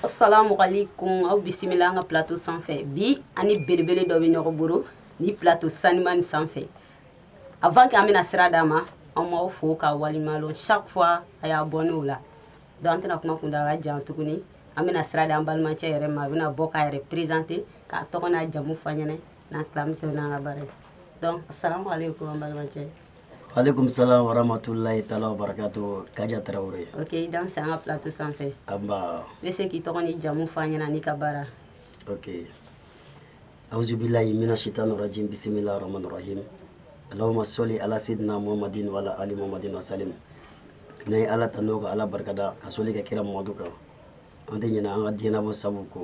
Assalamu alaikum aw bisimila an ka plateau sanfɛ bi an ni belebele dɔ bɛ ɲɔgɔn bolo ni plateau sanimani sanfɛ avant que an bɛna sira d'a ma an b'aw fo k'aw waleɲumanlɔn chaque fois a y'a bɔ n'o la donc an tɛna kuma kuntaala jan tuguni an bɛna sira di an balimacɛ yɛrɛ ma a bɛna bɔ k'a yɛrɛ présenter k'a tɔgɔ n'a jamu fɔ an ɲɛna n'an tila an bɛ tɛmɛ n'an ka baara ye donc asalamualeykum an balimacɛ aleykum salam waramatulayi taala wabarakatu kaja tarawele ok i danse an ka plateau sanfɛ nba i bɛ se k'i tɔgɔ n'i jamu fɔ an ɲɛna n'i ka baara ok auzubilayi mina shaitani rajim bisimila rahmani rahim allahuma soli ala sidina muhammadin wala ali muhammadin wasalim n'an ye ala tando ka ala barikada ka soli kɛ kira mamadu kan an tɛ ɲinɛ an ka diɲɛnabɔ sabu kɔ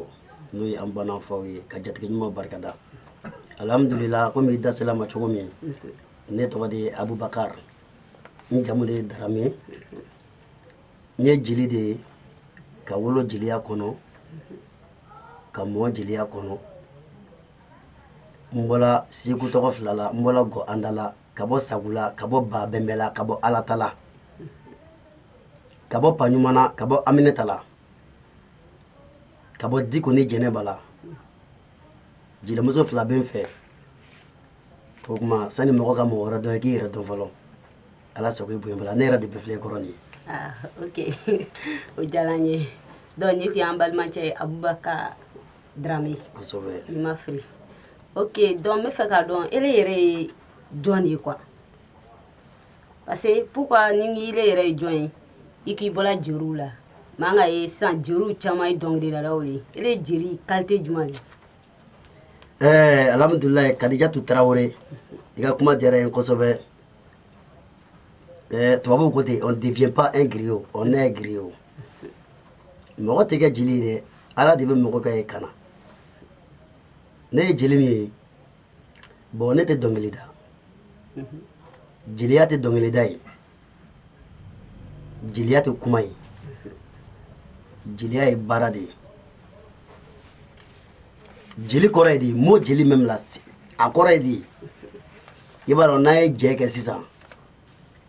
n'o ye an ba n'an faw ye ka jatigi ɲuman barikada alhamdulila komi i da sel'a ma cogo min ne tɔgɔ de ye abubakar n jamu de ye darame n ye jeli de ye ka wolo jeliya kɔnɔ ka mɔ jeliya kɔnɔ n bɔla seku tɔgɔ fila la n bɔla gɔ andala ka bɔ sagu la ka bɔ ba bɛnbɛ la ka bɔ alata la ka bɔ paɲuman na ka bɔ aminata la ka bɔ diko ni jɛnɛba la jelimuso fila bɛ n fɛ o tuma sani mɔgɔ ka mɔgɔ wɛrɛ dɔn i k'i yɛrɛ dɔn fɔlɔ ala sago i bonya bala ne yɛrɛ de bɛ filɛ kɔrɔ nin ye ah, ok o diyara n ye donc nin tun y'an balimacɛ ye abubakar drame kosɛbɛ ni n ma fili ok donc n bɛ fɛ k'a dɔn ele yɛrɛ ye jɔn de ye quoi parce que pourquoi ni ele yɛrɛ ye jɔn ye i k'i bɔra jeriw la mais an k'a ye sisan jeriw caman ye dɔnkilidalaw de ye ele ye jeri qualité jumɛn de ye alhamdulilayi kadijatu tarawele i ka kuma diyara n ye kosɛbɛ ɛɛ tubabuw ko ten on devient pas un griot on naît griot mɔgɔ tɛ kɛ jeli ye dɛ ala de bɛ mɔgɔ k'a ye ka na ne ye jeli min ye bon ne tɛ dɔnkili da jeliya tɛ dɔnkili da ye jeliya tɛ kuma ye jeliya ye baara de ye jeli kɔrɔ ye di mot jeli même là a kɔrɔ ye di i b'a dɔn n'an ye jɛ kɛ sisan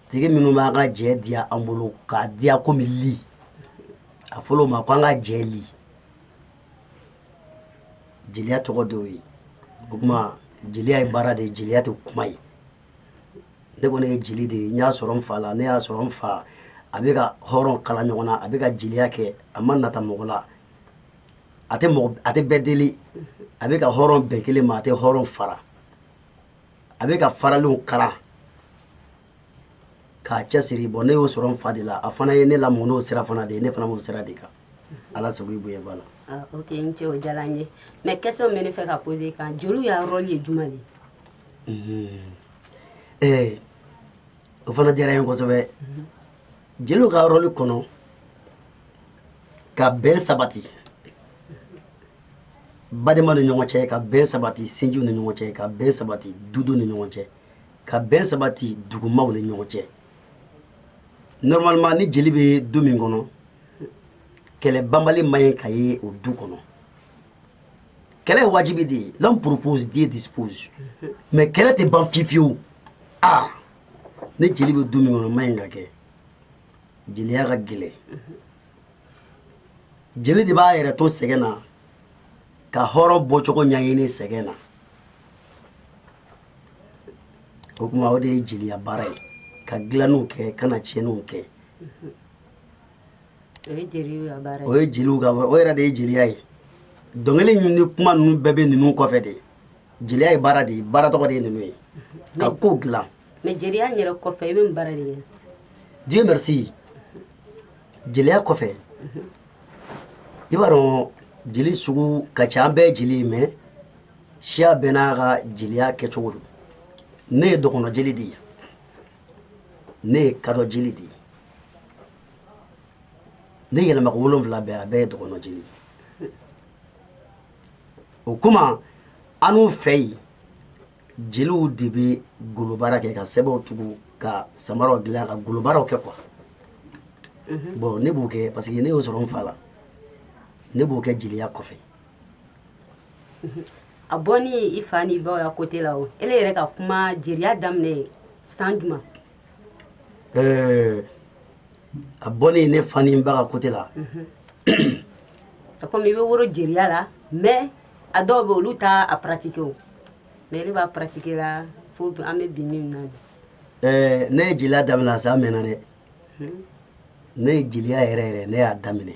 tigi minnu b'an ka jɛ diya an bolo k'a diya komi li a fɔl'o ma ko an ka jɛ li jeliya tɔgɔ d'o ye o tuma jeliya ye baara de ye jeliya tɛ kuma ye ne kɔni ye jeli de ye n y'a sɔrɔ n fa la ne y'a sɔrɔ n fa a bɛ ka hɔrɔn kala ɲɔgɔn na a bɛ ka jeliya kɛ a ma nata mɔgɔ la a tɛ bɛɛ deli a bɛ ka hɔrɔn bɛn kelen ma a tɛ hɔrɔn fara a bɛ ka faralenw kala k'a cɛsiri bon ne y'o sɔrɔ n fa de la a fana ye ne lamɔ n'o sira fana de ye ne fana b'o sira de kan ala sago i bonyaba la ah, ok n cɛ o diyara n ye mais question bɛ ne fɛ ka poser kan jeliw ya rôle ye juma de ye o fana diyara n ye kosɛbɛ jeliw ka rôle kɔnɔ ka bɛn sabati badema ni ɲɔgɔn cɛ ka bɛn sabati sinjiw ni ɲɔgɔn cɛ ka bɛn sabati dudu ni ɲɔgɔn cɛ ka bɛn sabati dugumaw ni ɲɔgɔn cɛ normalement ni jeli bɛ du min kɔnɔ kɛlɛ banbali man ɲi ka ye o du kɔnɔ kɛlɛ ye wajibi de ye l'homme propose Dieu dispose mais kɛlɛ tɛ ban fiyewu fiyewu ah ni jeli bɛ du min kɔnɔ man ɲi ka kɛ jeliya ka gɛlɛn jeli de b'a yɛrɛ to sɛgɛn na ka hɔrɔn bɔcogo ɲɛɲini sɛgɛn na o kuma o de ye jeliya baara ye ka dilanniw kɛ kana tiɲɛniw kɛ o ye jeliw ka baara ye o ye jeliw ka baara o yɛrɛ de ye jeliya ye dɔnkili ninnu ni kuma ninnu bɛɛ bɛ ninnu kɔfɛ de jeliya ye baara de ye baara tɔgɔ de ye ninnu ye ka ko dilan mais jeliya yɛrɛ kɔfɛ i bɛ mun baara de kɛ Dieu merci jeliya kɔfɛ i b'a dɔn jeli sugu ka ca an bɛɛ jeli ye mais siya bɛɛ n'a ka jeliya kɛcogo don ne ye dɔgɔnɔ jeli de ye ne ye kadɔ jeli de ye ne yɛlɛmako wolonfila bɛɛ a bɛɛ ye dɔgɔnɔ jeli ye o kuma annu fɛ yen jeliw de bɛ golobaara kɛ ka sɛbɛnw tugu ka samaraw dilan ka golobaaraw kɛ quoi bon ne b'o kɛ parce que ne y'o sɔrɔ n fa la ne b'o kɛ jeliya kɔfɛ a bɔni i fa ni i baw ya côté la o ele yɛrɛ ka kuma jeliya daminɛ san jumɛn a bɔni ne fa ni ba ka côté la mhm. a komi i bɛ woro jeliya la mais a dɔw bɛ olu t'a pratiquer o mais ne b'a pratiquer la fo an bɛ bi min na ne ye jeliya daminɛ a san mɛnna dɛ mhm. ne ye jeliya yɛrɛ yɛrɛ ne y'a daminɛ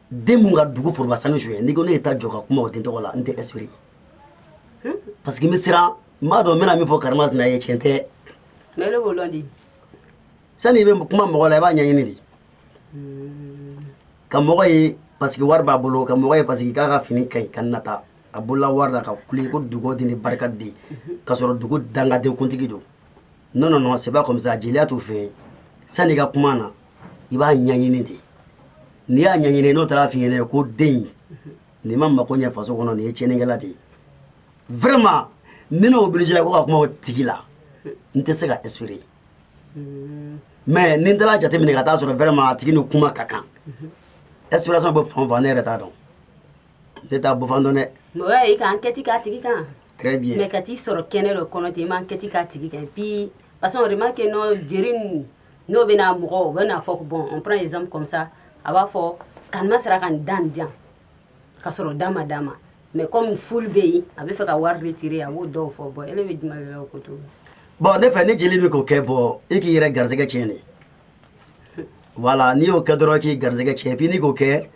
den mun ka dugu foroba sanu suɲɛ n'i ko ne ye taa jɔ ka kuma o den tɔgɔ la n tɛ inspiré parce que n bɛ siran n b'a dɔn n bɛna min fɔ karima sina ye tiɲɛ tɛ mais ne b'o lɔn di sani i bɛ kuma mɔgɔ la i b'a ɲɛɲini de ka mɔgɔ ye parce que wari b'a bolo ka mɔgɔ ye parce que k'a ka fini ka ɲi ka nata a bolola wari la ka kule ko dugu den ni barika den k'a sɔrɔ dugu dangaden kuntigi don non non non c'est pas comme ça jeliya t'o fɛ yen sani i ka kuma na i b'a ɲɛɲini de n'i y'a ɲɛɲini n'o taara f'i ɲɛna ko den nin ma mako ɲɛ faso kɔnɔ nin ye tiɲɛnikɛla de ye vraiment ni ne obligé ko ka kuma o tigi la n tɛ se ka espérer mais ni n taara jateminɛ ka taa sɔrɔ vraiment a tigi ni kuma ka kan inspiration bɛ fan o fan ne yɛrɛ t'a dɔn ne t'a bɔ fan dɔn dɛ mais o y'a ye i ka enquête k'a tigi kan très bien mais ka t'i sɔrɔ kɛnɛ dɔ kɔnɔ ten i ma enquête k'a tigi kan puis parce que on remarque que non jeli n'o bɛna mɔgɔ u b'a fɔ bon on prend exemple comme ça a b'a fɔ ka ma sera ka nin dan jan ka sɔrɔ d'a ma d'a ma mais comme foule bɛ yen a bɛ fɛ ka wari retirer a b'o dɔw fɔ bon e bɛ jumɛn ko to bon ne fɛ ni jeli min k'o kɛ bon e k'i yɛrɛ garisɛgɛ tiɲɛ de voilà n'i y'o kɛ dɔrɔn k'i garisɛgɛ tiɲɛ puis n'i k'o kɛ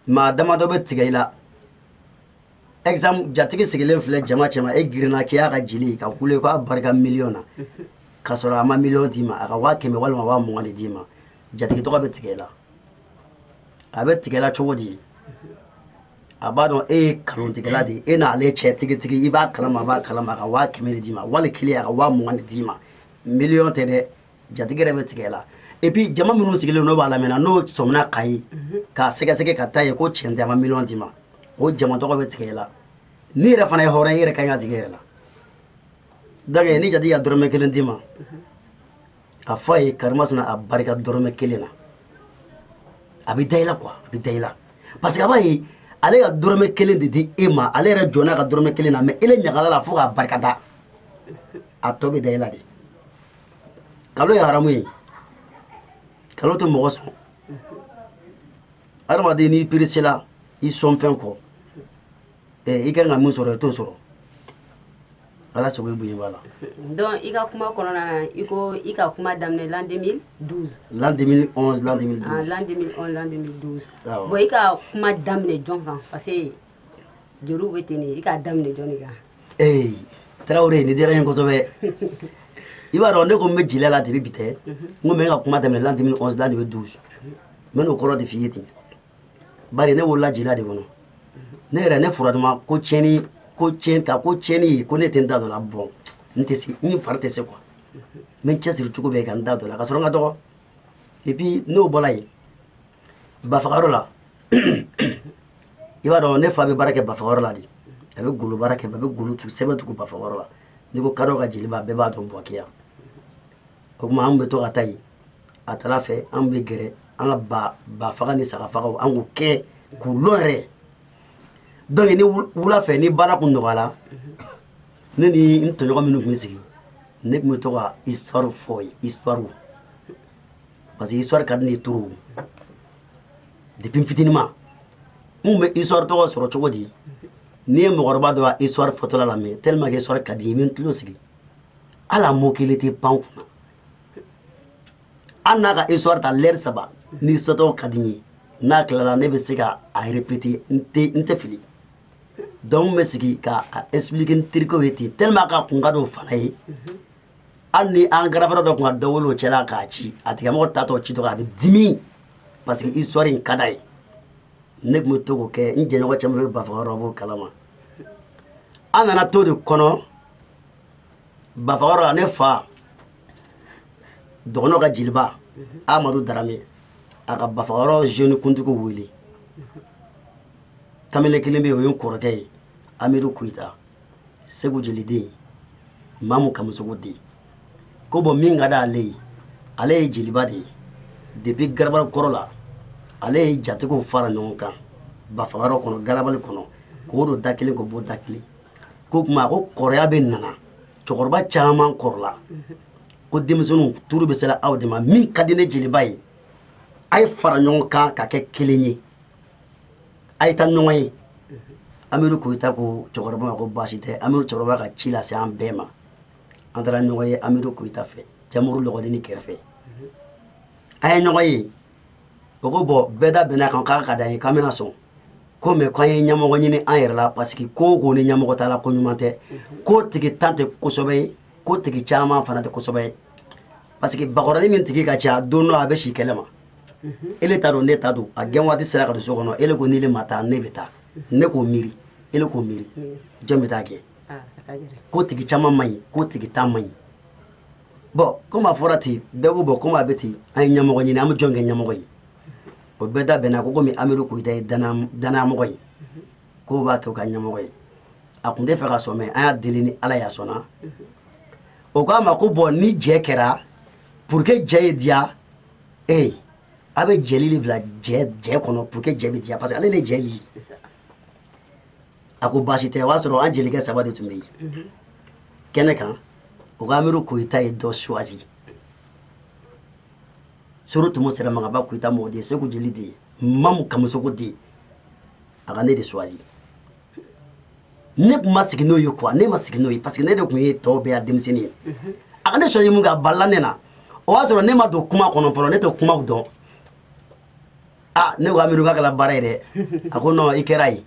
maa damadɔ bɛ tigɛ i la exemple jatigi sigilen filɛ jama cɛma e girinna k'i y'a ka jeli ka kule k'a barika miliyɔn na k'a sɔrɔ a ma miliyɔn d'i ma a ka waa kɛmɛ walima waa mugan de d'i ma jatigi tɔgɔ bɛ tigɛ i la a bɛ tigɛ i la cogo di a b'a dɔn e ye kalontigɛla de ye e n'ale cɛ tigitigi i b'a kalama a b'a kalama a ka waa kɛmɛ de d'i ma wali kelen a ka waa mugan de d'i ma miliyɔn tɛ dɛ jatigi yɛrɛ bɛ tigɛ i la et puis jama minnu sigilen n'o b'a lamɛn na n'o sɔmina k'a ye mhm. k'a sɛgɛsɛgɛ ka taa ye ko tiɲɛ tɛ a ma miliyɔn d'i ma o jama tɔgɔ bɛ tigɛ i la n'i yɛrɛ fana ye hɔrɔn ye i yɛrɛ ka kan ka tigɛ i yɛrɛ la donc ni jatigi ka dɔrɔmɛ kelen d'i ma mhm. a fɔ a ye karimasina a barika dɔrɔmɛ kelen na a bɛ da i la quoi a bɛ da i la parce que a b'a ye ale ka dɔrɔmɛ kelen de di e ma ale yɛrɛ jɔnna ka dɔrɔmɛ kelen na mais ele ɲagalila fo k'a barikada a tɔ bɛ da i la de kalon ye haramu ye kalon tɛ mɔgɔ sɔn adamaden n'i peresela i sɔn fɛn kɔ i ka kan ka min sɔrɔ i t'o sɔrɔ ala sago i bonya b'a la donc i ka kuma kɔnɔna na i ko i ka kuma daminɛ l'an 2012 l'an 2011 l'an 2012 ah, l'an 2011 l'an 2012 bon i ka kuma daminɛ jɔn kan parce que jeliw bɛ ten de i k'a daminɛ jɔni kan ee tarawele nin diyara n ye kosɛbɛ i b'a dɔn ne ko n bɛ jeliya la depuis bi tɛ n ko n bɛ n ka kuma daminɛ l'an 2011 l'an 2012 n bɛn'o kɔrɔ de f'i ye ten bari ne wolola jeliya de kɔnɔ ne yɛrɛ ne furatuma ko tiɲɛni ko tiɲɛ ta ko tiɲɛni ko ne tɛ n da dɔ la bon n tɛ se n fari tɛ se quoi n bɛ n cɛsiri cogo bɛɛ ka n da dɔ la k'a sɔrɔ n ka dɔgɔ et puis n'o bɔra yen bafagayɔrɔ la i b'a dɔn ne fa bɛ baara kɛ bafaga yɔrɔ la de a bɛ golo baara kɛ a bɛ golo tugu sɛbɛn tugu bafaga yɔrɔ la n'i ko kadɔ ka jeliba bɛɛ b'a dɔn buwake o tuma an bɛ to ka taa yen a taara fɛ an bɛ gɛrɛ an ka ba ba faga ni saga fagaw an k'o kɛ k'u lɔ yɛrɛ donc ni wula fɛ ni baara kun nɔgɔyala ne ni n tɔɲɔgɔn minnu tun bɛ sigi ne tun bɛ to ka histoire fɔ ye histoire parce que histoire ka di ne ye trop depuis n fitininma n tun bɛ histoire tɔgɔ sɔrɔ cogo di n'i ye mɔgɔkɔrɔba dɔ ka histoire fɔtɔla lamɛn tellement que histoire ka di n ye n bɛ n tulo sigi hali a mot kelen tɛ pan n kunna hali n'a ka histoire ta l'heure saba ni histoire ka di n ye n'a tilala ne bɛ se ka a répéter n tɛ fili donc n bɛ sigi ka a expliquer n terikɛw ye ten tellement que a kun ka d'o fana ye. hali ni an grand frère dɔ tun ka dɔ wele o cɛla k'a ci a tigilamɔgɔ taatɔ ci tɔgɔ a bɛ dimi parce que histoire in ka d'a ye ne tun bɛ to k'o kɛ n jɛɲɔgɔn caman bɛ bafaga yɔrɔ b'o kalama an nana t'o de kɔnɔ bafaga yɔrɔ la ne fa dɔgɔnɔ ka jeliba amadu darame a ka bafaga yɔrɔ jeune kuntigi wele kamalen kelen bɛ yen o ye n kɔrɔkɛ ye amidu kuyita segu jeliden mamu kamusogo den ko bɔn min ka di ale ye ale ye jeliba de ye depuis garabali kɔrɔ la ale ye jatigiw fara ɲɔgɔn kan bafagayɔrɔ kɔnɔ garabali kɔnɔ k'o don da kelen k'o bɔ da kelen ko kuma ko kɔrɔya bɛ nana cɛkɔrɔba caman kɔrɔla ko denmisɛnninw turu bɛ sera aw de ma min ka di ne jeliba ye a ye fara ɲɔgɔn kan ka kɛ kelen ye a ye taa ɲɔgɔn ye amidu koyita ko cɛkɔrɔba ma ko baasi tɛ amidu cɛkɔrɔba ka ci lase an bɛɛ ma an taara ɲɔgɔn ye amidu koyita fɛ jamuru lɔgɔdini kɛrɛfɛ an ye ɲɔgɔn ye o ko bɔn bɛɛ da bɛnna kan k'a ka d'an ye k'an bɛna sɔn ko mais k'an ye ɲɛmɔgɔ ɲini an yɛrɛ la parce que ko o ko ni ɲɛmɔgɔ t'a la ko ɲuman tɛ ko tigintan tɛ ko sɛbɛ ye ko tigi caman fana tɛ ko sɛbɛ ye parce que bakɔrɔni min tigi ka ca don dɔ a bɛ si kɛnɛma ele t'a dɔn ne t'a dɔn a gɛn waati sera ka don so kɔnɔ ele ko ni ne ma taa ne bɛ taa ne k'o miiri ele k'o miiri jɔn bɛ taa kɛ ko tigi caman man ɲi ko tigintan man ɲi bɔn komi a fɔra ten bɛɛ ko bɔn komi a bɛ ten an ye ɲɛmɔgɔ ɲini an bɛ jɔn kɛ ɲɛmɔgɔ ye o bɛɛ da bɛnna ko komi amiru koyita ye danayamɔgɔ ye k'o b'a k'o ka ɲɛmɔgɔ ye a tun tɛ fɛ ka sɔn mais an y'a deli ni ala y'a sɔnna o k'a ma ko bon ni jɛ kɛra pour que jɛ ye diya ee a bɛ jeli de bila jɛ jɛ kɔnɔ pour que jɛ bɛ diya parce que ale de jɛ li a ko baasi tɛ o y'a sɔrɔ an jelikɛ saba de tun bɛ yen kɛnɛ kan o k'amiru koyita ye dɔ choisi soro tumu sera magaba koyita mɔgɔ de ye segu jeli de ye mamu kamusoko de ye a ka ne de choisi ne tun ma sigi n'o ye quoi ne ma sigi n'o ye parce que ne de tun ye tɔw bɛɛ ya denmisɛnnin ye mhm. a ka ne choisi minkɛ a balila ne na o y'a sɔrɔ ne ma don kuma kɔnɔ fɔlɔ ne tɛ kumaw dɔn a ne ko amiru k'a kɛla baara ye dɛ a ko non i kɛra ye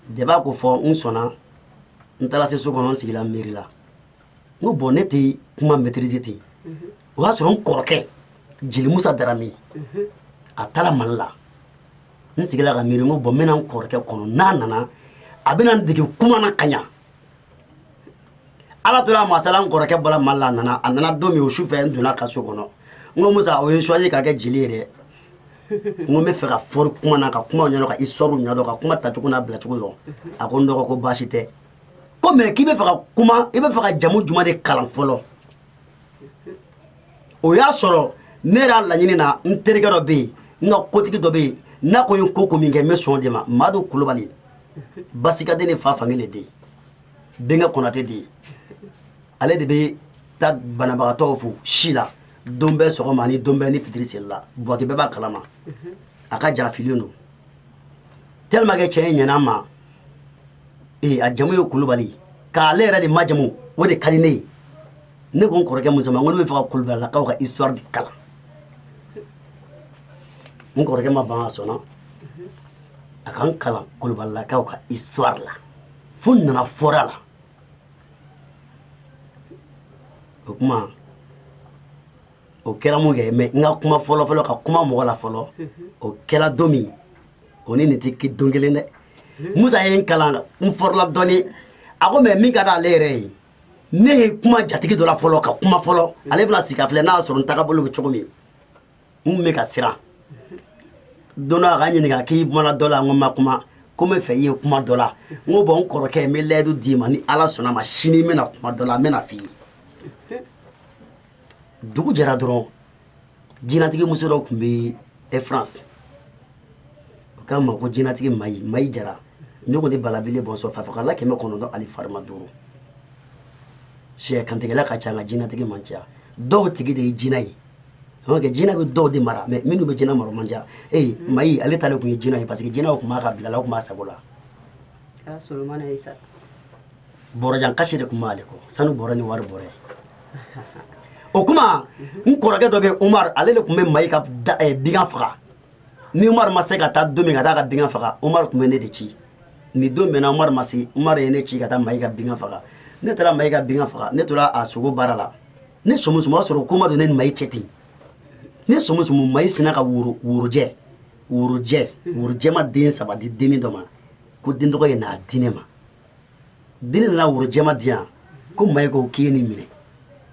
deba ko fo n sɔnna n taara se so kɔnɔ n sigila miiri la n ko bon ne tɛ kuma maîtrise ten mhm. o y'a sɔrɔ n kɔrɔkɛ jeli musa darame mhm. a taara mali la n sigila ka miiri n ko bon n bɛna n kɔrɔkɛ kɔnɔ n'a nana a bɛna n dege kuma na ka ɲa ala tora a masaya la n kɔrɔkɛ bɔra mali la a nana a nana don min o su fɛ n donn'a ka so kɔnɔ n ko musa o ye n choisi ka kɛ jeli ye dɛ n ko n bɛ fɛ ka fɔri kuma na ka kumaw ɲɛdɔn ka histoire ɲɛdɔn ka kuma tacogo n'a bilacogo dɔn a ko n dɔgɔ ko baasi tɛ ko mais k'i bɛ fɛ ka kuma i bɛ fɛ ka jamu jumɛn de kalan fɔlɔ o y'a sɔrɔ ne yɛrɛ laɲini na n terikɛ dɔ bɛ yen n ka kotigi dɔ bɛ yen n'a ko n ye ko min kɛ n bɛ sɔn o de ma madu kulubali basikaden ni fa fankelen de ye bɛnkɛ konatɛ de ye ale de bɛ taa banabagatɔw fo si la don bɛɛ sɔgɔma ani don bɛɛ ni fitiri seli la buwake bɛɛ b'a kalama a ka jarafilen don tellement que cɛ ye ɲɛna ma ee a jamu ye kulubali k'ale yɛrɛ de majamu o de ka di ne ye ne ko n kɔrɔkɛ musa ma ko ne bɛ fɛ ka kulubalilakaw ka histoire de kalan n kɔrɔkɛ ma ban a sɔnna a ka n kalan kulubalilakaw ka histoire la fo n nana fɔr'a la o kuma o kɛra minkɛ mais n ka kuma fɔlɔfɔlɔ ka kuma mɔgɔ la fɔlɔ o kɛra don min o ni nin tɛ ke- don kelen dɛ musa ye n kalan n fɔrɔla dɔɔni a ko mais min ka d'ale yɛrɛ ye ne ye kuma jatigi dɔ la fɔlɔ ka kuma fɔlɔ ale bɛna sigi k'a filɛ n'a y'a sɔrɔ n tagabolo bɛ cogo min n tun bɛ ka siran don dɔ a ka n ɲininka k'i kumana dɔ la n ko n ma kuma ko n bɛ fɛ i ye kuma dɔ la n ko bon n kɔrɔkɛ n bɛ layidu d'i ma ni ala sɔnna a ma sini n bɛna kuma dɔ la n bɛna f'i ye dugu jɛra dɔrɔn jinɛtigimuso dɔ tun bɛ e france o k'a ma ko jinɛtigi mayi mayi jara ne ko ni balabele bɔnsɔn fa fagala kɛmɛ kɔnɔntɔn ali farima duuru sɛ kantigɛla ka ca nka jinɛtigi man ca dɔw tigi de ye jinɛ ye kɛ jinɛ bɛ dɔw de mara mais minnu bɛ jinɛ mara man ca ee mayi ale ta de tun ye jinɛ ye parce que jinɛw tun b'a ka bila la tun b'a sago la bɔrɔjan kasi de tun b'ale kɔ sanu bɔrɔ ni wari bɔrɛ o kuma n kɔrɔkɛ dɔ bɛ umar ale de tun bɛ mayi ka eh, bɛgan faga ni umar ma se ka taa don min ka taa ka bɛgan faga umar tun bɛ ne de ci nin don bɛnna umar ma se umar ye ne ci ka taa mayi ka bɛgan faga ne taara mayi ka bɛgan faga ne tora a sogo baara la ne somusumu o y'a sɔrɔ ko ma don ne ni mayi cɛ ten ne somusumu mayi sinna ka woro worojɛ worojɛ worojɛman den saba di dennin dɔ ma ko den tɔgɔ ye n'a di ne ma Dennin nana worojɛman di yan ko mayi ko k'i ye nin minɛ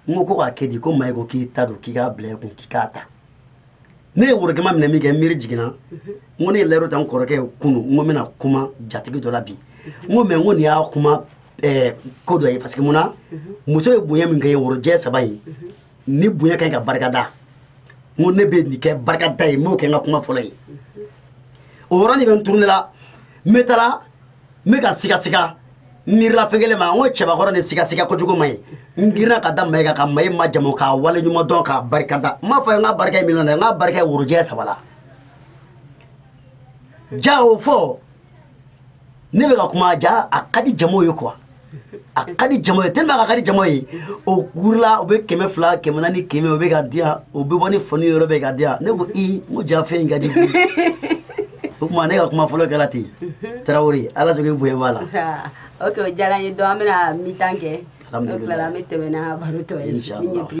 n ko ko k'a kɛ di ko mayi ko k'i ta don k'i k'a bila i kun k'i k'a ta ne ye worogɛman minɛ min kɛ miiri jiginna n ko ne ye layidu ta n kɔrɔkɛ ye kunun n ko n bɛna kuma jatigi dɔ la bi n ko mais n ko nin y'a kuma ko dɔ ye parce que mun na muso ye bonya min kɛ ye worojɛ saba in nin bonya kan ka barikada n ko ne bɛ nin kɛ barikada ye n b'o kɛ n ka kuma fɔlɔ ye o yɔrɔnin bɛɛ n tourner la n bɛ taa n bɛ ka sigasiga n miirila fɛn kelen ma n ko cɛbakɔrɔ ni sigasiga kojugu ma ye n girinna ka da mayi kan ka mayi majamu k'a waleɲuman dɔn k'a barika da n m'a fɔ i ye n ka barika ye miliyɔn na n ka barika ye worojɛ saba la ja o fɔ ne bɛ ka kuma ja a ka di jama ye quoi a ka di jama ye tellement a ka di jama ye o kurula o bɛ kɛmɛ fila kɛmɛ naani kɛmɛ o bɛ k'a di yan o bɛ bɔ nin fan ni yɔrɔ bɛɛ k'a di yan ne ko i n ko ja fɛn in ka di bi o kuma ne ka kuma fɔlɔ kɛra ten tarawele ala sago i bonya b'a la ok o diyara n ye donc an bɛna mi-temps kɛ n'o tilara an bɛ tɛmɛ n'a baro tɔ ye min ye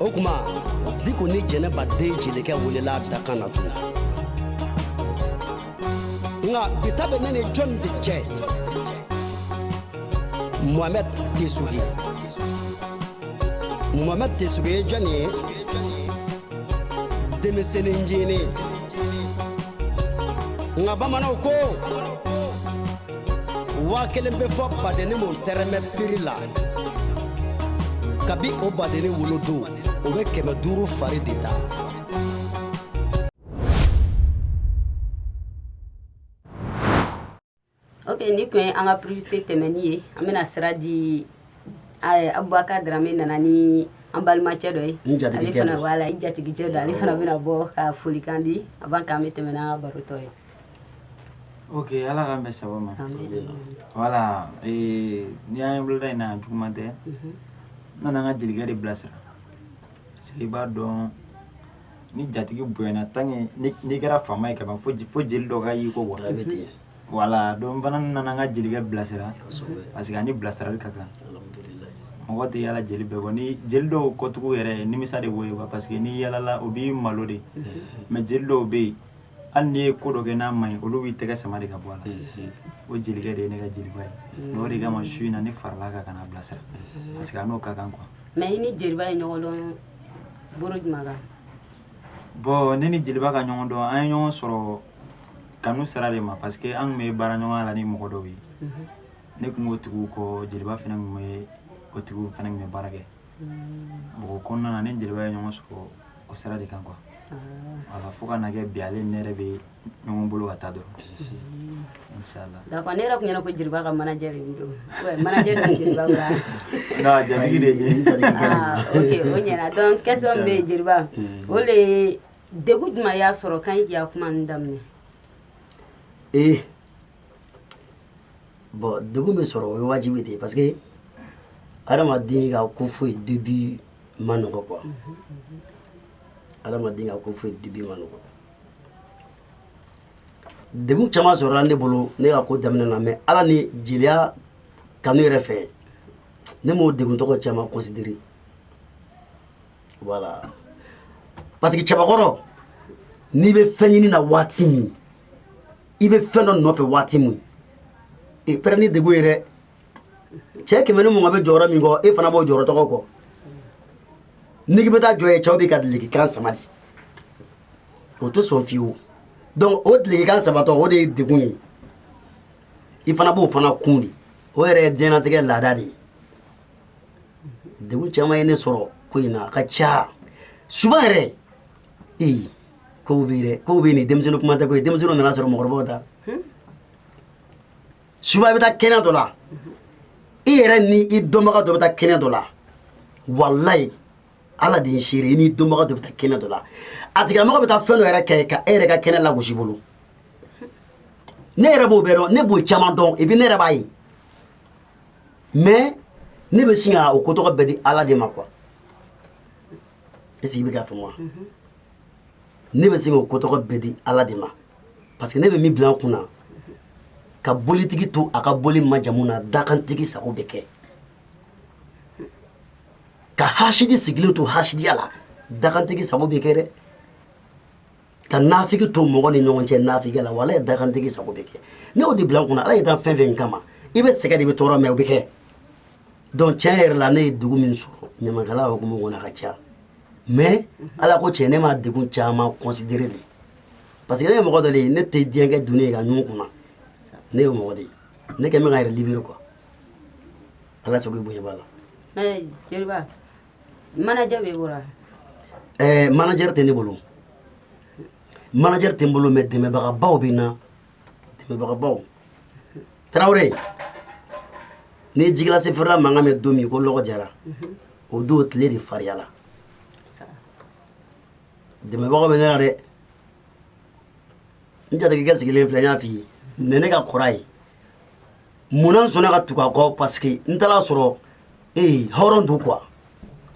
o kuma diko ni jɛnɛba den jelikɛ welela a dakan na tun nka bi ta bɛ ne ni jɔn de cɛ mohamɛd tesugi mohamɛd tesugi ye jɔn ye denmisɛnnin ncinin nka bamananw ko waa kelen bɛ fɔ badennin min tɛrɛmɛ prix la kabi o badennin wolodon o bɛ kɛmɛ duuru fari de da ok nin kun ye an ka publicité tɛmɛni ye an bɛna sira di eh, abubakar darame nana ni an balimacɛ dɔ ye N jatigikɛ ale fana don. voilà i jatigicɛ dɔ ale fana bɛna bɔ ka folikan di avant k'an bɛ tɛmɛ n'an ka baro tɔ ye ok ala k'an bɛn sababu ma Amen. voilà eh, n'i y'an ye boloda in na juguman tɛ Mhm. n nana an ka jelikɛ de bilasira parce que i b'a dɔn ni jatigi bonyana tant que ni- n'i kɛra faama ye kaban fo je- fo jeli dɔ ka y'i kɔ quoi bɛ tigɛ voilà donc n fana nana an ka jelikɛ bilasira kosɛbɛ parce que a ni bilasirali ka kan alhamdulilayi mɔgɔ tɛ yala jeli bɛɛ kɔ ni jeli dɔw kɔtugu yɛrɛ nimisa de b'o ye quoi parce que n'i yalala o b'i malo de mais jeli dɔw bɛ yen hali n'i ye ko dɔ kɛ n'a ma ɲi olu b'i tɛgɛ sama de ka bɔ a la o jelikɛ de ye ne ka jeliba ye mais o de kama su in na ne farala kan ka na bilasira parce que a n'o ka kan quoi mais i ni jeliba ye ɲɔgɔn dɔn bolo jumɛn kan bon ne ni jeliba ka ɲɔgɔn dɔn an ye ɲɔgɔn sɔrɔ kanu sira de ma parce que an tun bɛ baara ɲɔgɔnya la ni mɔgɔ dɔw ye ne tun b'o tigiw kɔ jeliba fana tun bɛ o tigiw fana tun bɛ baara kɛ o kɔnɔna na ne ni jeliba ye ɲɔgɔn sɔrɔ o sira de kan quoi voilà fo ka na kɛ bi ale ne yɛrɛ bɛ ɲɔgɔn bolo ka taa dɔrɔn inshallah d'accord ne yɛrɛ tun ɲɛ na ko jeliba ka manager de b'i don manager de bɛ jeliba bolo wa non jatigi de ye ah ok o ɲɛna donc question min bɛ yen jeliba o de ye degun jumɛn y'a sɔrɔ kan i k'i ka kuma ninnu daminɛ ee bon degun bɛ sɔrɔ o ye wajibi de ye parce que adamaden ka ko foyi début ma nɔgɔ quoi adamaden ka ko foyi début ma nɔgɔ degun caman sɔrɔla ne bolo ne ka ko daminɛ na mais ala ni jeliya kanu yɛrɛ fɛ ne m'o degun tɔgɔ caman considéré voilà parce que cɛbakɔrɔ n'i bɛ fɛn ɲini na waati min i bɛ fɛn dɔ nɔfɛ waati min i prêt ni degun ye dɛ cɛ kɛmɛ ni mugan bɛ jɔyɔrɔ min kɔ e fana b'o jɔyɔrɔ tɔgɔ kɔ n'i bɛ taa jɔ yen cɛw b'i ka dulɔkikan sama dɛ o tɛ sɔn fiyewu donc o dulɔkikan samatɔ o de ye degun ye i fana b'o fana kun de o yɛrɛ ye diɲɛlatigɛ laada de ye degun caman ye ne sɔrɔ ko in na a ka ca souvent yɛrɛ ee kow bɛ yen dɛ kow bɛ yen nin denmisɛnnin kuma tɛ koyi denmisɛnninw nana sɔrɔ mɔgɔkɔrɔbaw ta souvent i bɛ taa kɛnɛ dɔ la i yɛrɛ ni i dɔnbaga dɔ bɛ taa kɛnɛ dɔ la walayi ala de ye seere i n'i dɔnbaga dɔ bɛ taa kɛnɛ dɔ la a tigilamɔgɔ bɛ taa fɛn dɔ yɛrɛ kɛ ka e yɛrɛ ka kɛnɛ lagosi bolo ne yɛrɛ b'o bɛɛ dɔn ne b'o caman dɔn et puis ne yɛrɛ b'a ye mais ne bɛ sin ka o ko tɔgɔ bɛɛ di ala de ma quoi est-ce que i bɛ k'a faamu wa mhm. ne bɛ se k'o ko tɔgɔ bɛɛ di ala de ma parce que ne bɛ min bila n kun na ka bolitigi to a ka boli majamu na dakantigi sago bɛ kɛ ka hasidi sigilen to hasidiya la dakantigi sago bɛ kɛ dɛ ka nafigi to mɔgɔ ni ɲɔgɔn cɛ nafigiya la wala ye dakantigi sago bɛ kɛ ne y'o de bila n kunna ala y'i dan fɛn fɛn kama i bɛ sɛgɛn de bɛ tɔɔrɔ mais o bɛ kɛ donc tiɲɛ yɛrɛ la ne ye degun min sɔrɔ ɲamakala hukumu kɔnɔ a ka ca mais ala ko tiɲɛ ne ma degun caman considéré de parce que ne ye mɔgɔ dɔ de ye ne tɛ diɲɛ kɛ doni ye ka ɲun n kunna ne ye mɔgɔ de ye ne kɛn bɛ ka n yɛrɛ libérer quoi ala sago i bonya b'a la jeliba manager b'i bolo wa? Ɛɛ manager tɛ ne bolo, manager tɛ n bolo mais dɛmɛbagabaw bɛ n na, dɛmɛbagabaw, Tarawele, n'i ye ji glacé feerela mankan mɛn don min ko lɔgɔ jara, unhun, o don tile de fariyala, saha, dɛmɛbagaw bɛ ne la dɛ, n jatigikɛ sigilen filɛ n y'a fɔ i ye, ne ne ka kɔrɔ a ye. munna n sɔnna ka tugu a kɔ parce que n taara a sɔrɔ ee hɔrɔn don quoi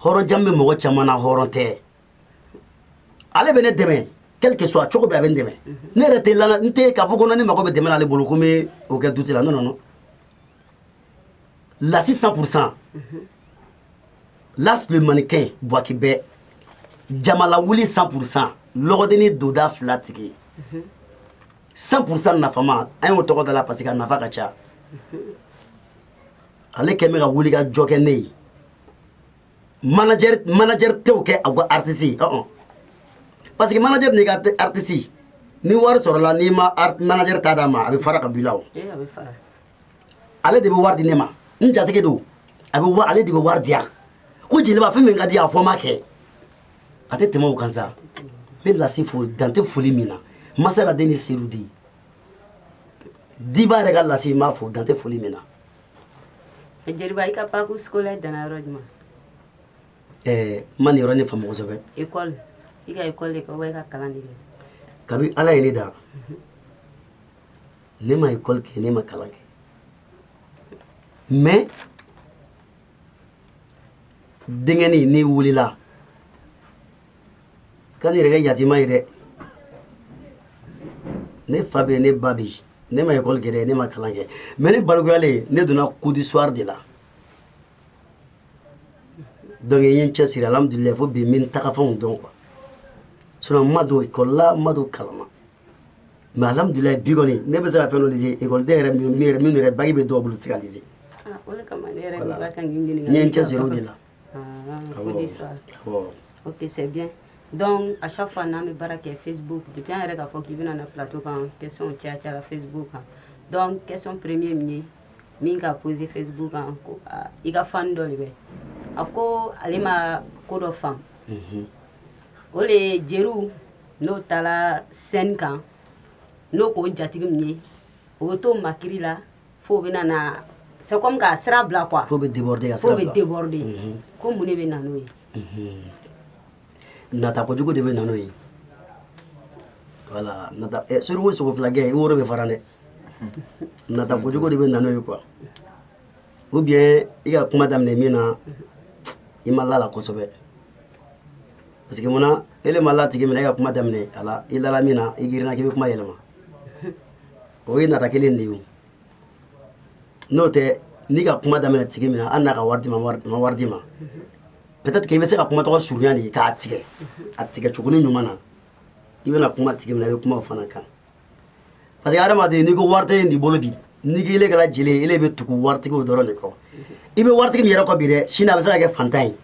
hɔrɔn jamu bɛ mɔgɔ caman na hɔrɔn tɛ ale bɛ ne dɛmɛ quel que soit cogo bɛɛ a bɛ n dɛmɛ ne yɛrɛ tɛ lala n tɛ k'a fɔ ko ne mago bɛ dɛmɛ na ale bolo ko n bɛ o kɛ dute la non non non lasi 100 pour cent las le mannequin buwaki bɛɛ jama lawuli 100 pour cent lɔgɔdenni donda fila tigi 100 pourcent nafama an y'o tɔgɔ da la parce que a nafa ka ca ale kɛn bɛ ka wuli ka jɔ kɛ ne ye manager manager t'o kɛ a ka artiste ye ɔn parce que manager n'i ka artiste ni wari sɔrɔla n'i ma manager ta d'a ma a bɛ fara ka bɔ i la o. ale de bɛ wari di ne ma n jatigi don a bɛ wa ale de bɛ wari di yan ko jeliba fɛn min ka di a fɔ n b'a kɛ a tɛ tɛmɛ o kan sa n bɛ lasi fo dan tɛ foli min na masala den ni sedu di diva yɛrɛ ka lasi n b'a fo dan tɛ foli min na jeliba i ka parcours scolaire danna yɔrɔ jumɛn ɛɛ n ma nin yɔrɔnin faamu kosɛbɛ ekɔli i ka ekɔli de kɛ wa i ka kalan de kɛ kabi ala ye ne dan ne ma école kɛ ne ma kalan kɛ mais denkɛnin ne wulila ka ne yɛrɛ kɛ yatima ye dɛ ne fa bɛ ne ba bi ne ma école kɛ dɛ ne ma kalan kɛ mais ne balikuyalen ne donna cours du soir de la donc n ye n cɛsiri alhamdulilayi fo bi n bɛ n tagafan dɔn quoi sinon n ma don école la n ma don kalan na mais alhamdulilayi bi kɔni ne bɛ se ka fɛn dɔ lise ekɔliden yɛrɛ min yɛrɛ min yɛrɛ bac bɛ dɔw bolo se ka lise ah, n ye n cɛsiri o de la ok c'est bien donc à chaque fois n'an bɛ baara kɛ facebook depuis an yɛrɛ k'a fɔ k'i bɛna na plateau kan question caya cayara facebook kan donc question premier min ye min ka posé facebook kan ko ah, i ka fan dɔ de bɛ a ko ale ma ko dɔ faamu mhm. o le ye jeliw n'o taara scène kan n'o k'o jatigi min ye o bɛ to makiri la fo bɛ na c'est comme k'a sira bila quoi fo bɛ de bɛ déborder ko mun de bɛ na n'o ye nata kojugu de bɛ na n'o ye voilà suruku sogo fila gɛn i woro bɛ fara dɛ nata kojugu de bɛ na n'o ye quoi ou bien i ka kuma daminɛ min na i ma la la kosɛbɛ parce que munna ele ma la tigi min na e ka kuma daminɛ a la i lala min na i girinna k'i bɛ kuma yɛlɛma o ye nata kelen de ye n'o tɛ n'i ka kuma daminɛ tigi min na hali n'a ka wari d'i ma ma wari d'i ma peut-être que i bɛ se ka kuma tɔgɔ surunya de k'a tigɛ a tigɛ cogo ni ɲuman na i bɛna kuma tigi min na i bɛ kuma o fana kan parce que adamaden n'i ko wari tɛ nin bolo bi n'i k'ile kɛra jeli ye ele bɛ tugu waritigiw dɔrɔn de kɔ i bɛ waritigi min yɛrɛ kɔ bi dɛ sini a bɛ se ka kɛ fantan ye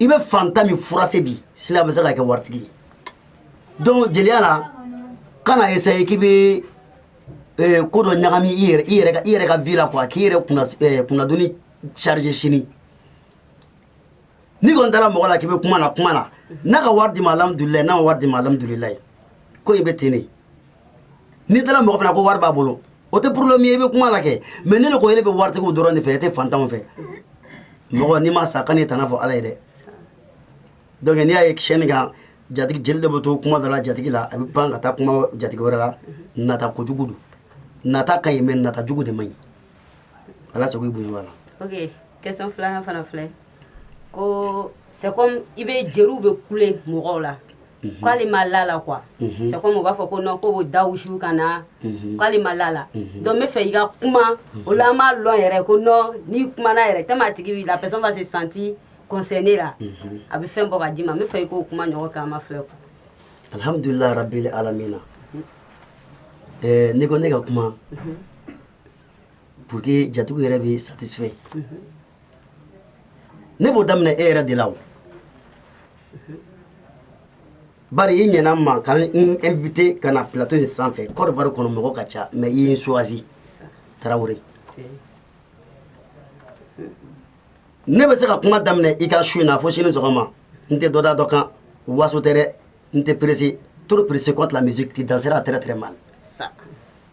i bɛ fantan min furase bi sini a bɛ se ka kɛ waritigi ye donc jeliya la kana essayer k'i bɛ eh, ko dɔ ɲagami i yɛrɛ i yɛrɛ ka i yɛrɛ ka vie la quoi k'i yɛrɛ kunna eh, kunnadonni charger sini n'i kɔni taara mɔgɔ la k'i bɛ kuma na kuma na n'a ka wari d'i ma alihamudulilayi n'a ma wari d'i ma alihamudulilayi ko in bɛ ten de n'i taara mɔgɔ fana ko wari b'a bolo o tɛ problème ye i bɛ kuma la kɛ mais ne de ko ele bɛ waritigiw dɔrɔn de fɛ e tɛ fantanw fɛ mɔgɔ n'i ma sa kan'i tana fɔ ala ye dɛ donc n'i y'a ye scène kan jatigi jeli de bɛ to kuma dɔ la jatigi la a bɛ pan ka taa kuma jatigi wɛrɛ la nata kojugu don nata ka ɲi mais nata jugu de man ɲi ala sago i bonya b'a la ok question filanan fana filɛ ko c'est comme i bɛ jeriw bɛ kule mɔgɔw la mhm. k'ale ma la la quoi mhm. c'est comme u b'a fɔ ko non ko b'o da wusu ka na mhm. k'ale ma la la donc n bɛ fɛ i ka kuma o la an b'a lɔn yɛrɛ ko non n'i kumana yɛrɛ tellement a tigi la personne va se sentir concerné la a bɛ fɛn bɔ ka d'i ma n bɛ fɛ i k'o kuma ɲɔgɔn kɛ an ma filɛ quoi alhamdulilayi rabili alamina ɛɛ eh, n'i ko ne ka kuma pour que jatigiw yɛrɛ bɛ satisfait ne b'o daminɛ e yɛrɛ de la o bari i ɲɛna n ma ka n invité ka na plateau in sanfɛ Côte d'Ivoire kɔnɔ mɔgɔ ka ca mais i ye n choisi Tarawele ne bɛ se ka kuma daminɛ i ka su in na fo sini sɔgɔma n tɛ dɔ da dɔ kan waso tɛ dɛ n tɛ pressé trop pressé contre la musique tu danseras très très mal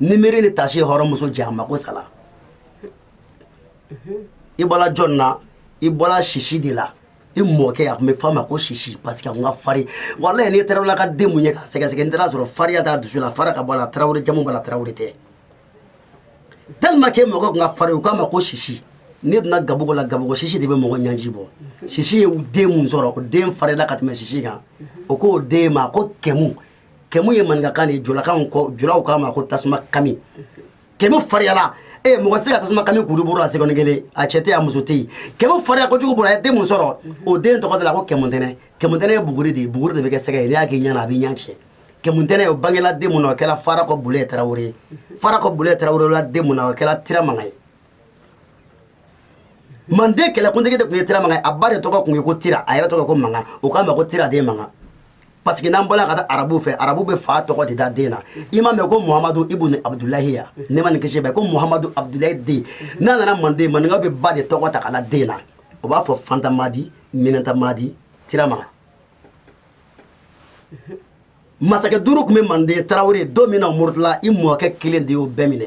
ni miiri ni tasi hɔrɔnmuso cɛ a ma ko sala i bɔra jɔn na i bɔra sisi de la i mɔkɛ a tun bɛ f'a ma ko sisi parce que a tun ka fari walayi n'i tarawele ka den mun ye k'a sɛgɛsɛgɛ n'i taara sɔrɔ fariya t'a dusu la fara ka bɔ a la tarawele jamu b'a la tarawele tɛ tellement que mɔkɛ tun ka fari u k'a ma ko sisi n'i donna gabugu la gabugu sisi de bɛ mɔgɔ ɲanji bɔ sisi ye den mun sɔrɔ o den farila ka tɛmɛ sisi kan o k'o den ma ko kɛmu kɛmu ye maninkakan de ye julakan ko julaw k'a ma ko tasuma kami kɛmu fariyala ee mɔgɔ tɛ se ka tasuma kami kuru bolo la seconde kelen a cɛ tɛ yen a muso tɛ yen kɛmu fariya kojugu bolo a ye den mun sɔrɔ o den tɔgɔ de la ko kɛmuntɛnɛ kɛmuntɛnɛ ye buguri de ye buguri de bɛ kɛ sɛgɛ ye n'i y'a k'i ɲɛ na a b'i ɲɛ tiɲɛ kɛmuntɛnɛ o bangela den mun na o kɛra farakɔ bulɛ tarawele ye farakɔ bulɛ tarawele la den mun na o kɛra tira mankan ye manden kɛlɛkuntigi de tun ye tira mankan ye a ba de tɔgɔ tun ye ko tira a yɛrɛ tɔgɔ ko mankan o k'a ma ko tira den mankan parce que n'an bɔla ka taa arabu fɛ arabu bɛ fa tɔgɔ de da den na i m'a mɛn ko muhamadu ibun abudulayi ya nɛɛma ni kisi b'a ye ko muhamadu abudulayi den n'a nana manden maninka bɛ ba de tɔgɔ ta k'a la den na o b'a fɔ fanta madi minata madi tira mankan masakɛ duuru tun bɛ manden tarawele don min na murutila i mɔkɛ kelen de y'o bɛɛ minɛ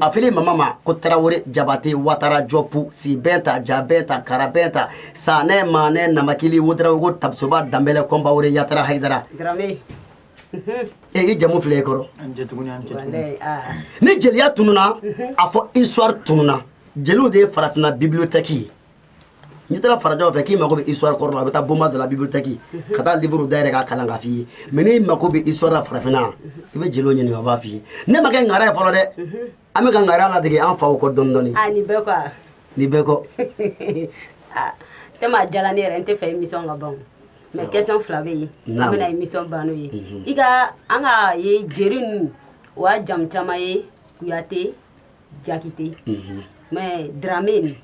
a fili mama ma ko tarawele jabate watara jɔpu sibɛnta jabɛnta karabɛnta sanɛ manɛ namakili wedarawogo tapsoba danbɛlɛ kɔnpawore yatara hayidara e i jamu filɛ i kɔrɔ ni jeliya tununa a fɔ histoire tununa jeliw de ye farafinna bibliothèque ye n'i taara farajɛw fɛ k'i mako bɛ histoire kɔrɔ la a bɛ taa bonba dɔ la bibliothèque ka taa livre dayɛlɛ k'a kalan k'a f'i ye mais n'i mako bɛ histoire la farafinna i bɛ jeliw ɲininka o b'a f'i ye ne ma kɛ ŋara ye fɔlɔ dɛ an bɛ ka ŋara ladege an faw kɔ dɔɔni dɔɔni a ni bɛɛ kɔ a ni bɛɛ kɔ tellement a diyala ne yɛrɛ n t'a fɛ émission ka ban mais question fila bɛ yen an bɛna émission ban n'o ye i ka an ka ye jeli ninnu o y'a jamu caman ye kuyate jakite mais dramɛ nin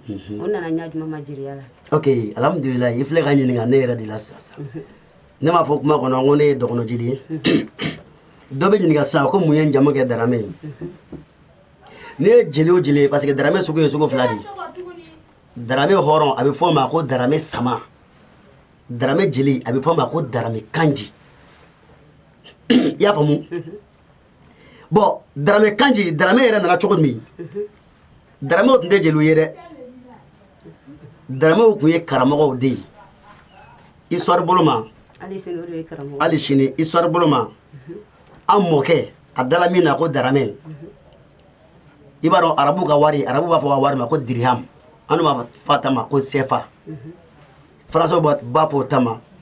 o nana ɲa jumɛn ma jeliya la ok alhamdulillah i filɛ ka ɲininka ne yɛrɛ de la sisan ne m'a fɔ kuma kɔnɔ ko ne ye dɔgɔnɔ jeli ye dɔ bɛ ɲininka sisan ko mun ye jamu kɛ dramɛ ye n'i ye jeli o jeli ye parce que dramɛ sugu ye sugu fila de ye dramɛ hɔrɔn a bɛ fɔ o ma ko dramɛ sama dramɛ jeli a bɛ fɔ o ma ko dramɛ kanji i y'a faamu bon daramɛ kanji daramɛ yɛrɛ nana cogo min daramɛw tun tɛ jeliw ye dɛ daramɛw tun ye karamɔgɔw de ye histoire bolo ma hali sini histoire bolo ma an mɔkɛ a dala min na ko daramɛ i b'a dɔn arabu ka wari arabu b'a fɔ a ka wari ma ko diriham an b'a fɔ an ta ma ko sefa faransaw b'a fɔ o ta ma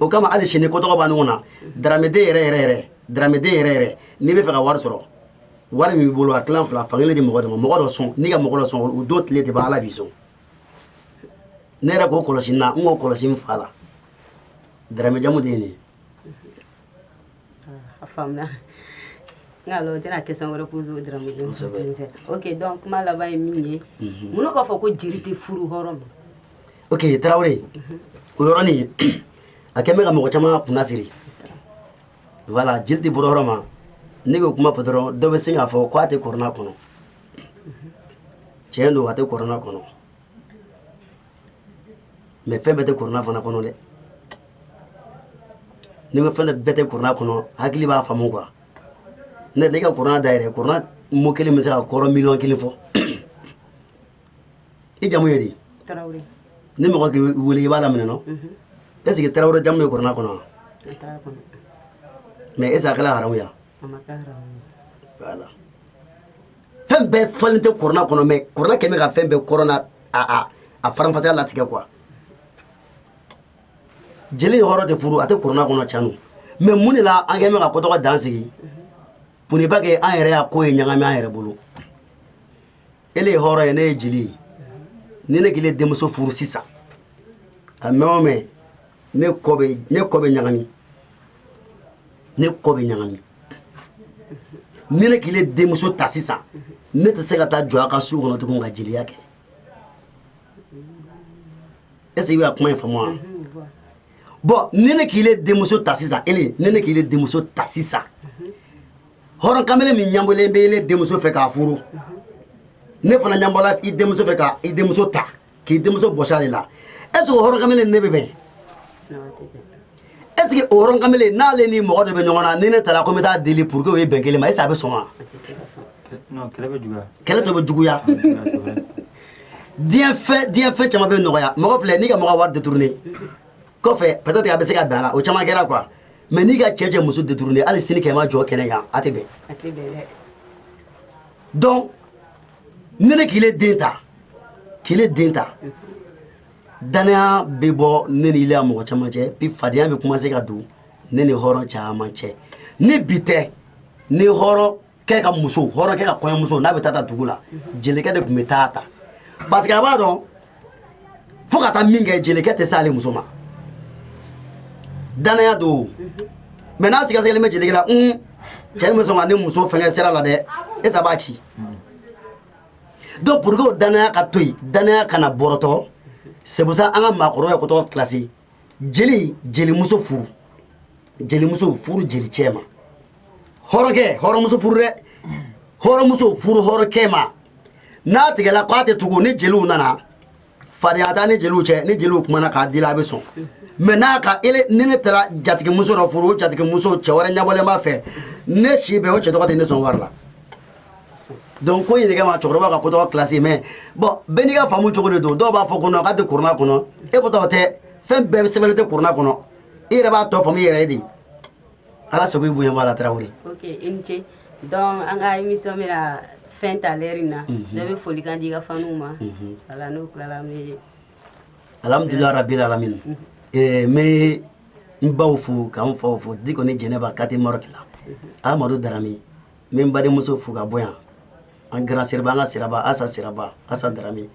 o kama hali sini ko tɔgɔ b'a ɲɔgɔn na daramɛden yɛrɛ yɛrɛ yɛrɛ daramɛden yɛrɛ yɛrɛ n'i bɛ fɛ ka wari sɔrɔ wari min b'i bolo a tilan fila fankelen di mɔgɔ dɔ ma mɔgɔ dɔ sɔn n'i ka mɔgɔ dɔ sɔn o don tile tɛ ban ala b'i sɔn ne yɛrɛ k'o kɔlɔsi n na n k'o kɔlɔsi n fa la daramɛ jamu de ye nin ye A faamuna n'a tɛna kɛ wɛrɛ k' dɔrɔn ok donc kuma laban ye min ye n b'a fɔ ko jeli tɛ furu hɔrɔn ma ok tarawele o yɔrɔnin a kɛlen bɛ ka mɔgɔ caman kunna siri voilà jeli tɛ furu hɔrɔn ma ne k'o kuma fɔ dɔrɔn dɔ bɛ se k'a fɔ ko a tɛ kɔrɔna kɔnɔ cɛn don a tɛ kɔrɔna kɔnɔ mais fɛn bɛɛ tɛ kuruna fana kɔnɔ dɛ ni ma fɛn bɛɛ tɛ kuruna kɔnɔ hakili b'a faamu quoi ni ne ka kuruna dayɛlɛ kuruna mot kelen bɛ se ka kɔrɔ miliyɔn kelen fɔ i jamu ye di ni mɔgɔ k'i wele i b'a laminɛ non est ce que tarawele jamu ye kuruna kɔnɔ wa mais est ce que a kɛla haramu ya voilà fɛn bɛɛ fɔlen tɛ korona kɔnɔ mais korona kɛlen bɛ ka fɛn bɛɛ kɔrɔna a a a faranfasiya latigɛ quoi jeli ni hɔrɔn tɛ furu a tɛ korona kɔnɔ can don mais mun de la an kɛlen bɛ ka ko tɔgɔ dan sigi pour ne pas que an yɛrɛ y'a ko ye ɲagami an yɛrɛ bolo ele ye hɔrɔn ye ne ye jeli ye ni ne k'ile denmuso furu sisan a mɛn o mɛn ne kɔ bɛ ɲagami ne kɔ bɛ ɲagami ni ne k'ile denmuso ta sisan ne tɛ se ka taa jɔ a ka su kɔnɔ tugun ka jeliya kɛ est-ce que i bɛ ka kuma in faamu wa bon ni ne k'ile denmuso ta sisan ele ni ne k'ile denmuso ta sisan hɔrɔn kamele min ɲanbɔlen bɛ ele denmuso fɛ k'a furu ne fana ɲanbɔla i denmuso fɛ ka i denmuso ta k'i denmuso bɔsi ale la est ce que o hɔrɔn kamalen ne bɛ bɛn est ce que o hɔrɔn kamalen n'ale ni mɔgɔ dɔ bɛ ɲɔgɔn na ni ne taara ko n bɛ taa deli pour que o ye bɛn kelen ma est ce que a bɛ sɔn wa kɛlɛ tɔ bɛ juguya diɲɛ fɛn diɲɛ fɛn caman bɛ nɔgɔya mɔgɔ filɛ n'i ka mɔgɔ wari détourné kɔfɛ peut être a bɛ se ka bɛn a la o caman kɛra quoi mais n'i ka cɛ cɛ muso détourné hali sini kɛmɛ jɔ kɛnɛ kan a tɛ bɛn donc ni ne k'ile den ta k'ile den ta danaya bɛ bɔ ne ni ile a mɔgɔ caman cɛ bi fadenya bɛ commencer ka don ne ni hɔrɔn caman cɛ ni bi tɛ ni hɔrɔnkɛ ka muso hɔrɔnkɛ ka kɔɲɔmuso n'a bɛ taa ta dugu la jelikɛ de tun bɛ taa ta parce que a b'a dɔn fo ka taa min kɛ jelikɛ tɛ s'ale muso ma danaya don mais n'a sigasigalen bɛ jelikɛ la un cɛ nin bɛ sɔn ka ne muso fɛngɛ sira la dɛ est ce que a b'a ci donc pour que o danaya ka to yen danaya kana bɔrɔtɔ c'est pour ça an ka maakɔrɔba ye ko tɔgɔ classer jeli jelimuso furu jelimuso furu jeli cɛ ma hɔrɔnkɛ hɔrɔnmuso furu dɛ hɔrɔnmuso furu hɔrɔnkɛ ma n'a tigɛla k'a tɛ tugu ni jeliw nana fadenya t'a ni jeliw cɛ ni jeliw kumana k'a dila a bɛ sɔn mais n'a ka ele ni ne taara jatigimuso dɔ furu o jatigimuso cɛ wɛrɛ ɲɛbɔlen b'a fɛ ne si bɛɛ o cɛ tɔgɔ tɛ ne sɔn wari la donc ko in de kama cɛkɔrɔba ka ko tɔgɔ classé mais bon bɛɛ n'i ka faamu cogo de don dɔw b'a fɔ ko non k'a tɛ kurana kɔnɔ e ko tɔgɔ tɛ fɛn bɛɛ sɛbɛnlen tɛ kurana kɔnɔ i yɛrɛ b'a tɔ faamu i yɛrɛ ye de ala sago i bonya b'a la tarawele ok i ni ce donc an ka émission bɛna fin ta lɛri in na dɔ bɛ folikan di i ka faniw ma voilà n'o tilala an bɛ alhamdulilah rabil alamin n bɛ n baw fo k'an faw fo diko ni jɛnɛba kati marɔki la amadu darame n bɛ n badenmuso fo ka bɔ yan an grand siraba an ka siraba asa siraba asa darame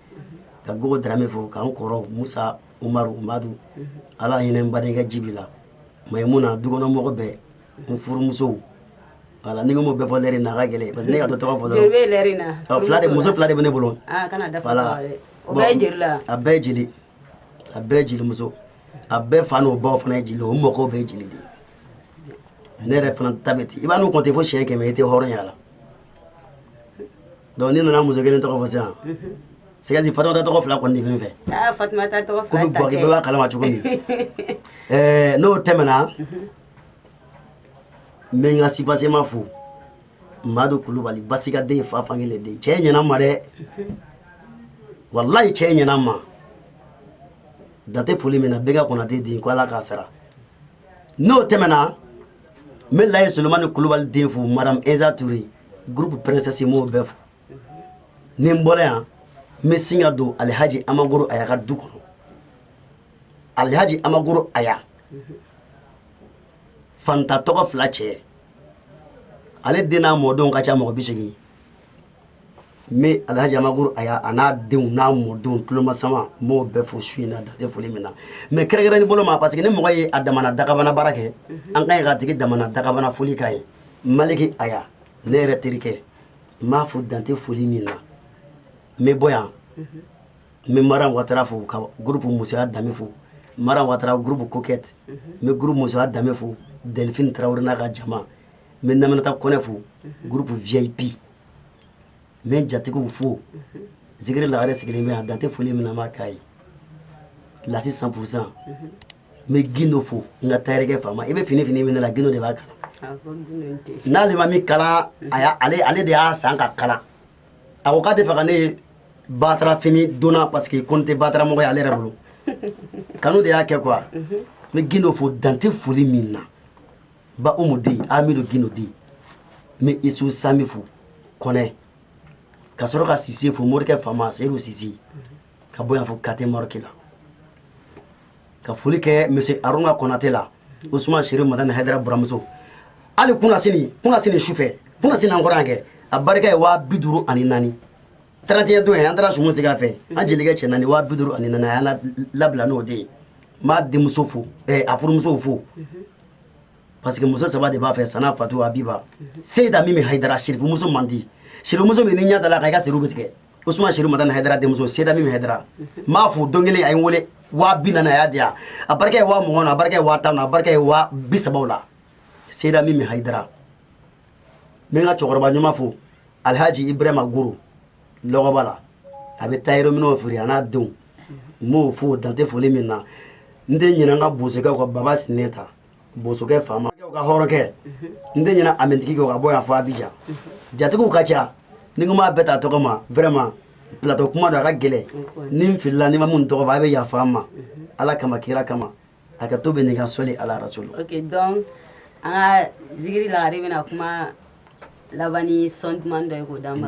ka gogo darame fo k'an kɔrɔ musa umaru madu ala hinɛ n badenkɛ jibi la mayimuna dukɔnɔmɔgɔ bɛɛ n furumusow voilà ni n ko m'o bɛɛ fɔ lɛri in na a ka gɛlɛn parce que ne ka dɔ tɔgɔ fɔ dɔrɔn jeli lɛri na fila de muso fila de bɛ ne bolo ah kana dafa wala o bɛɛ jeli la a bɛɛ jeli a bɛɛ jelimuso a bɛɛ fa n'o baw fana ye jeli o mɔgɔw bɛɛ jeli de ne yɛrɛ fana ta bɛ ten i man'o kɔnte fo siɲɛ kɛmɛ i tɛ hɔrɔn y'a la donc ni n nana muso kelen tɔgɔ fɔ sisan c'est que fatumata tɔgɔ fila kɔni de bɛ n fɛ fatumata tɔgɔ fila ta cɛ bɛɛ b'a kalama cogo min n'o tɛmɛna n bɛ n ka sipasema fo madu kulubali basika den ye fa fankelen den cɛ ɲɛna n ma dɛ walayi cɛ ɲɛna n ma dante foli min na bɛnka konate den ko ala k'a sara n'o tɛmɛna n bɛ layi solomani kulubali den fo madame eza ture groupe princesse m'o bɛɛ fo ni n bɔra yan n bɛ sin ka don alihaji amagoro aya ka du kɔnɔ alihaji amagoro aya fanta tɔgɔ fila cɛ ale den n'a mɔdenw ka ca mɔgɔ bi segin n bɛ alhaji amagoro aya a n'a denw n'a mɔdenw tulomasama n b'o bɛɛ fo su in na dante foli min na mais kɛrɛnkɛrɛnni bolo ma parce que ni mɔgɔ ye a damana dagabana baara kɛ mhm. an ka ɲi k'a tigi damana dagabana foli k'a ye maliki aya ne yɛrɛ terikɛ n b'a fo dante foli min na n bɛ bɔ yan mhm. n bɛ mara watara fo ka groupe musoya danbe fo mara watara groupe coquette n bɛ groupe musoya danbe fo delphine tarawele n'a ka jama n bɛ naminata kɔnɛ fo groupe vip n bɛ n jatigiw fo zikiri lagare sigilen bɛ yan dante foli min na n b'a k'a ye lasi 100 pour cent n bɛ gindo fo n ka tayɛrɛkɛ faama i bɛ fini fini min ne la gindo de b'a kala n'ale ma min kala a y'a ale ale de y'a san k'a kala a ko k'a tɛ fɛ ka ne batara fini donna parce que ko n tɛ batara mɔgɔ ye ale yɛrɛ bolo kanu de y'a kɛ quoi n bɛ gindo fo dante foli min na ba umu di amidu gindo di n bɛ isu sami fo kɔnɛ ka sɔrɔ ka sise fo morikɛ fama seyidu sise ka bɔ yan fo ka taa maroki la ka foli kɛ monsieur aruna konate la usumani serifu madani hayidara buramuso hali kuna sini kuna sini sufɛ kuna sini an kɔrɔ yan kɛ a barika ye waa bi duuru ani naani trente et un don ye an taara sumu sigi a fɛ an jelikɛ cɛ naani waa bi duuru ani naani a y'an labila n'o de ye n b'a denmuso fo eh, a furumusow fo parce que muso saba de b'a fɛ sana fatu abiba seyida mimi hayidara sirifumuso man di sirifumuso min n'i ɲɛ dala a kan i ka siriw bɛ tigɛ usumani sherifu madani haidara denmuso seyida mimi haidara n b'a fo don kelen a ye n wele waa bi naani a y'a di yan a barika ye waa mugan na a barika ye waa tan na a barika ye waa bi saba la seyida mimi haidara n bɛ n ka cɛkɔrɔba ɲuman fo alhaji ibrahima goro lɔgɔba la a bɛ tailleur minɛnw feere a n'a denw n b'o fo dante foli min na n tɛ ɲinɛ n ka bosokɛ kɔ baba sinɛnta bosokɛ faama ka hɔrɔnkɛ n tɛ ɲinɛ amintigi ka bɔ yan fo abijan jatigiw ka ca ni n ko n b'a bɛɛ ta tɔgɔ ma vraiment plateau kuma don a ka gɛlɛn ni n filila ni n ma min tɔgɔ fɔ a bɛ yafa n ma ala kama kira kama a ka to bɛ nin ka sɔli ala rasulu donc an ka zikiri lagare bɛna kuma laban ni son duman dɔ ye k'o d'an ma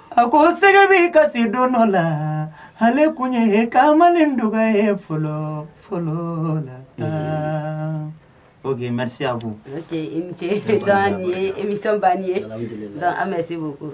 A ko sɛgɛ bɛ kasi don dɔ la ale kun ye kamalen dɔgɔ ye fɔlɔ fɔlɔ la o maya ko ce ye emi nisɔn' ye an bɛ se ko